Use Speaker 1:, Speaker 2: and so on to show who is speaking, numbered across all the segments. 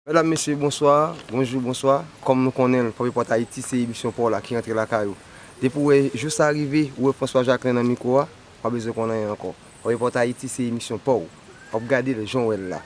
Speaker 1: Medam mesye bonswa, bonjou bonswa, kòm nou konnen l Pòp Epòt Ayiti se emisyon pa w la ki antre lakay ou. Depi w wè jou sa rive, ou wè François Jacquelin nan mikwo a, pa bezwen konn anyen ankò. Pòp Epòt Ayiti se emisyon pa w. W ap gade l jan w wè l la.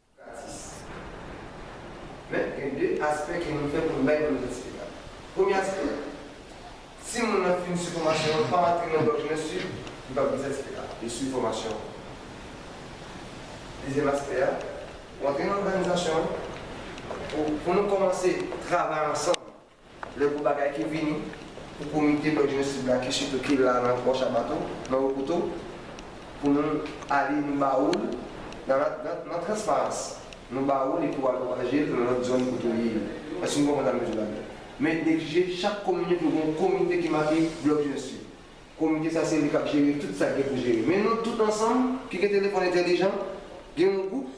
Speaker 1: Gratis. Men, gen de aspè ke nou fè pou nou bay moun nan sila. Premye aspè, si moun nan fin swiv fòmasyon an, pa rantre nan lòt lyen swiv, li pap gen sètifika a. Li swiv fòmasyon an. Dezyèm aspè a, ou antre nan òganizasyon an, pou nou kòmanse travay ansanm. Lè gwo bagay ki vini pou komite Nò Green Sud la ki sitou ki la nan Pò Shabatou, nan Wo Kouto, pou nou ale nou ba ou l, nan transparans, nou ba ou l epi w al pwopaje l nan lòt zòn kote w ye yo. Èske nou konprann sa m vle di la la? Men li egzije chak komin yo pou yo gen yon komite ki make Blòk Jenès Sud. Komite sa se li k ap jere tout sa k gen pou jere. Men nou tout ansanm ki gen telefòn entèlijan, gen yon gwoup,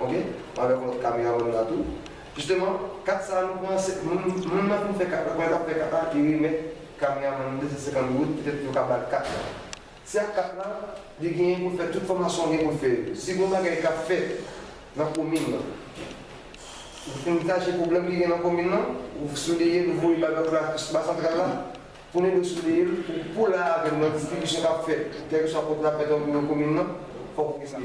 Speaker 1: ok avèk lòt kameraman la tou jisteman kat sa nou pran se moun nan fin fè kat la pandan lap fè kat la li remèt kameraman nan 250 goud petèt yo ka bal kat la se ak kat la li genyen poul fè tout fòmasyon gen poul fè yo si gon bagay kap fèt nan komin nan ou fin tache pwoblèm ki gen nan komin nan ou souleyel ou voye bal lòt la ba santral la pou nèg yo souleyel pou la avèm nan distribisyon kap fèt kèlkeswa kote nap fèt nan komin nan fòk ou gen sa.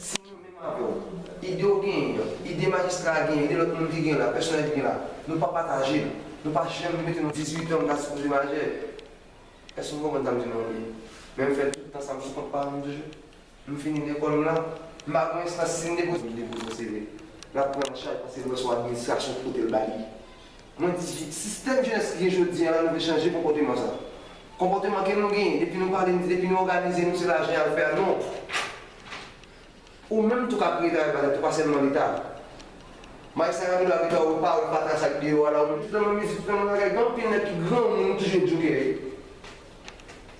Speaker 1: Si nou menm avè w, ide w genyen an, ide majistra a genyen, ide lòt moun ki genyen la, pèsonèl ki genyen la, nou pa pataje l, nou pa janm mete nou dizuitan m ta sipoze majè. Èske nou konprann sa m di nou an byen? Men m fè tout tan sa m sou kont pa m toujou. M fini lekòl m la, m pa gen yon estans si m depoze yon seve, l ap pran an chaj pase m wè sou administrasyon ki pote l ba li. Mwen di, sistèm jenès ki gen jodi an la nou vle chanje konpòteman sa. Konpòteman ke nou genyen, depi nou pale, nou di depi nou òganize nou se lajan y al fè a, non. Ou menm tou ka kreye travay pa tèt ou, pa sèlman Leta. Maes sa ka tou la Leta ou pa wè fatra sa ki deyò a la ou menm tout nan mizik tout nan bagay gen anpil nèg ki granmoun ou toujou jokè yo.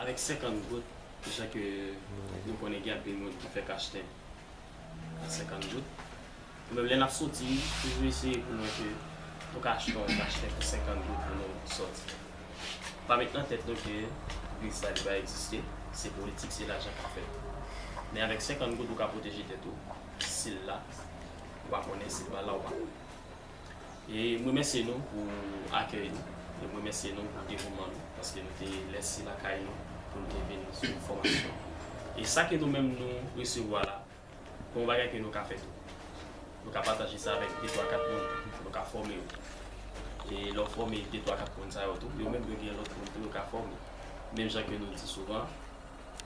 Speaker 2: Avèk 50 goud, jan ke nou konnen gen anpil moun ki fèk achte ak 50 goud. Nou menm lè n ap soti, toujou eseye pou nou wè ke nou ka achte yon kachtè pou 50 goud pou nou soti. Nou pa met nan tèt nou ke kriz sa li pa egziste, se politik, se lajan k ap fèt. Men avèk 50 goud ou ka pwoteje tèt ou, si l la ou pa konnen, si l pa la ou pa konnen. E m remèsye nou pou akèy nou, e m remèsye nou pou devouman nou paske nou te lèse lakay nou pou nou te vin swiv fòmasyon an. E sa ke nou menm nou resevwa la, gen yon bagay ke nou ka fè tou. Nou ka pataje sa avèk de twa kat moun, nou ka fòme yo. E lè w fòme de twa kat moun sa yo tou, yo menm yo gen lòt moun tou yo ka fòme. Menm jan ke nou di souvan,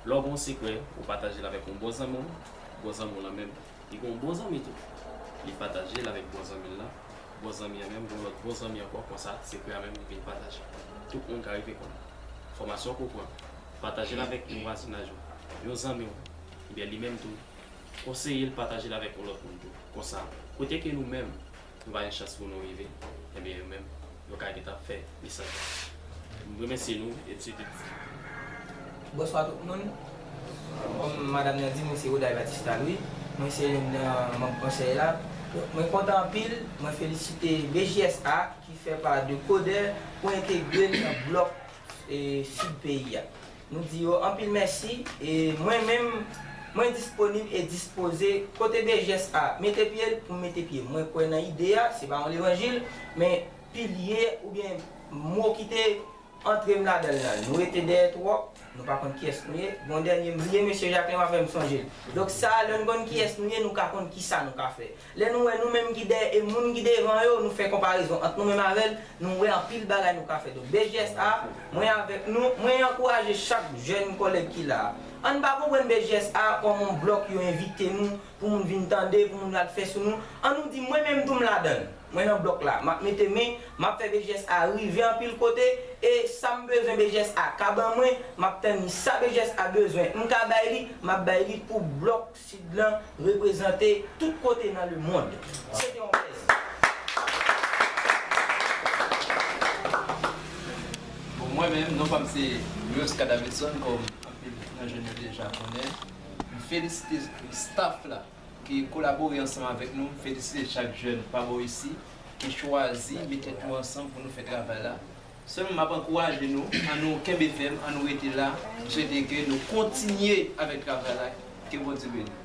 Speaker 2: lè w gen yon sekrè, ou pataje l avèk yon bon zanmi w, bon zanmi w lan menm Li gen yon bon zanmi tou. Li pataje l avèk bon zanmi l lan. Bon zanmi an menm gen yon lòt bon zanmi ankò konsa sekrè a menm li vin pataje. Tout moun ka rive konn enfòmasyon ke w pran, pataje l avèk moun vwazinaj ou, yon zanmi w, ebyen li menm tou konseye l pataje l avèk yon lòt moun tou. Konsa, kote ke nou menm Nou pa gen chans pou nou rive, ebyen yo menm yo ka gentan ap fè lisans la. M remèsye nou et se tout.
Speaker 3: Bonswa tout moun, kòm madam nan di mwen se Oday Batista Louis, mwen se youn nan manb konsèy la. Mwen kontan anpil, mwen felisite BJSA ki fè pa de Coder pou entegre l nan blòk Sid peyi a. Nou di yo anpil mèsi e mwen menm mwen disponib e dispoze kote BGS a mete pye l pou m mete pye m. Mwen kwè nan ide a, se pa yon levanjil, men pilye oubyen mo ki te antre m ladan l lan. Nou rete dèyè twòp, nou pa konn kiyès nou ye. Gon dènye m bliye, mesye Jacquelin m ap fè m sonje l. Donk sa a lè n konn kiyès nou ye nou ka konn kisa nou ka fè. Lè nou wè nou menm ki dèyè e moun ki devan yo, nou fè konparezon ant nou menm avè l, nou wè anpil bagay nou ka fè. Donk, BJSA, mwen avèk nou, mwen ankouraje chak jèn kòlèg ki la a. An n pa konprann BJSA kòm on blòk yo envite nou pou moun vin tande, pou moun al fè sou nou. An nou di, mwen menm tou m ladan l, mwen nan blòk la, m ap mete men, m ap fè BJSA rive anpil kote e sa m bezwen BJSA ka ban mwen, m ap tann li. Sa BJSA bezwen m ka bay li, m ap bay li pou blòk. Sid lan reprezante tout kote nan le mond. Se te yon plezi.
Speaker 4: Bon mwen menm non pam se Rioska Davidson kom anpil nan jèn yo deja konnen. M felisite staff la ki kolabore ansanm avèk nou, m felisite chak jèn pa bò isi ki chwazi met tèt yo ansanm pou nou fè travay la. Sèm map ankouraje nou an nou kenbe fèm an nou rete la m swete ke nou kontinye avèk travay la ke Bondye
Speaker 1: beni nou.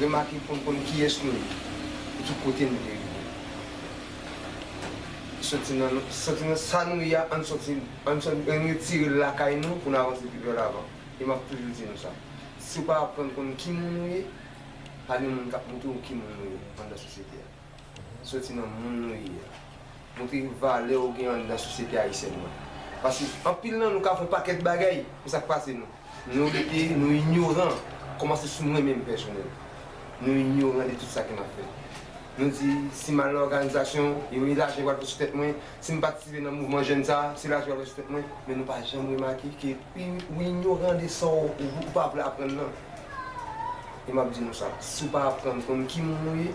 Speaker 1: Remake pou n konn kiyès nou ye e ki kote n vle rive. Soti nan soti nan sa nou ye a, ann soti ann retire l lakay nou pou n avanse pi vè lavan. E m ap toujou di nou sa, si w pa aprann konn ki moun ou ye, pa gen moun k ap montre w ki moun ou ye anndan sosyete a. Soti nan moun nou ye a. Montre valè ou gen an nan sosyete ayisyèn nan. Paske anpil nan nou ka fè yon pakèt bagay, men sa k pase nou? Nou rete, nou inyoran. Kòmanse sou mwen menm pèsonèl. Nou inyoran de tout sa ke n ap fè. Nou di, si m al nan òganizasyon, yo e lajan ki pral fèt sou tèt mwen. Si m patisipe nan mouvman jèn sa a, se lajan ki pral fèt sou tèt mwen. Men nou pa janm remake ke ou inyoran de sa w, ou pa vle aprann nan. E m ap di nou sa, si w pa aprann konn ki moun ou ye.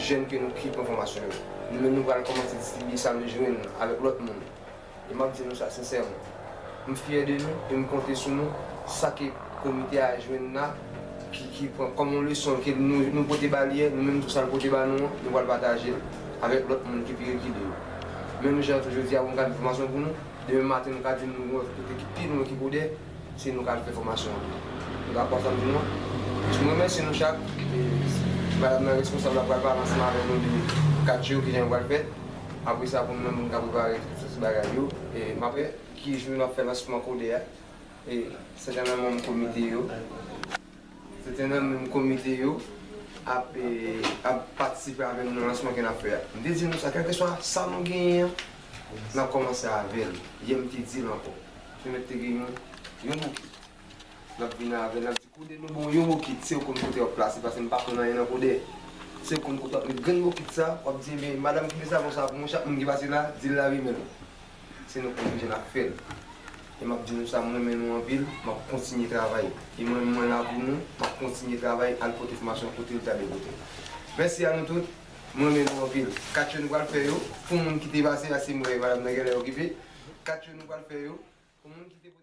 Speaker 1: Jèn ke nou ki pran fòmasyon yo. Nou menm nou pral kòmanse distribye sa nou jwenn avèk lòt moun. E map di nou sa sensèman. M fyè de nou e m konte sou nou sa ke komite a jwenn la ki ki pran kòm yon leson ke nou nou pote ba li, nou menm tou sa l pote ba nou an nou pral pataje l avèk lòt moun ki pi rekile yo. Menm jan tou jodi a pou m ka di fòmasyon pou nou, demen maten nou ka di nou wè kote ki pi lwen ki kou de. si nou kal fè fòmasyon an. Nou ta kontan pou nou. M remèsye nou chak. Madam nan responsab la pral pale ansanm avèk nou de kat yo kijan yo pral fèt. Apre sa pou nou menm pou nou ka prepare tout bagay yo. M ap wè ki jou n ap fè lansman kode a. E sèten nan manm komite yo, sèten nan manm komite yo ap patisipe avè nou nan lansman ke n ap fè a. M te di nou sa kèlkeswa sa nou genyen an, n ap kòmanse avè l. Yè m te di l ankò. Yo mèt te gen yon yon bokit. Nap vini avè l, nap di kode nou bon yon bokit se ou konn kote wap plase pase m pa konn anyen nan kode. Se ou konn kote wap met grenn bokit sa, wap di enben madam kenbe savon sa pou mwen chak moun ki pase la di l lave-men l. Se nou konn kijan nap fè l. E map di nou sa m renmen nou anpil, map kontinye travay. E mwen menm mwen la pou nou, map kontinye travay al pote fòmasyon kote l ta dwe pote l. Mèsi a nou tout. M renmen nou anpil. 4 yo nou pral fè yo pou moun ki te pase la sim wè madam nan genlè okipe 4 yo nou pral fè yo pou moun ki te pote.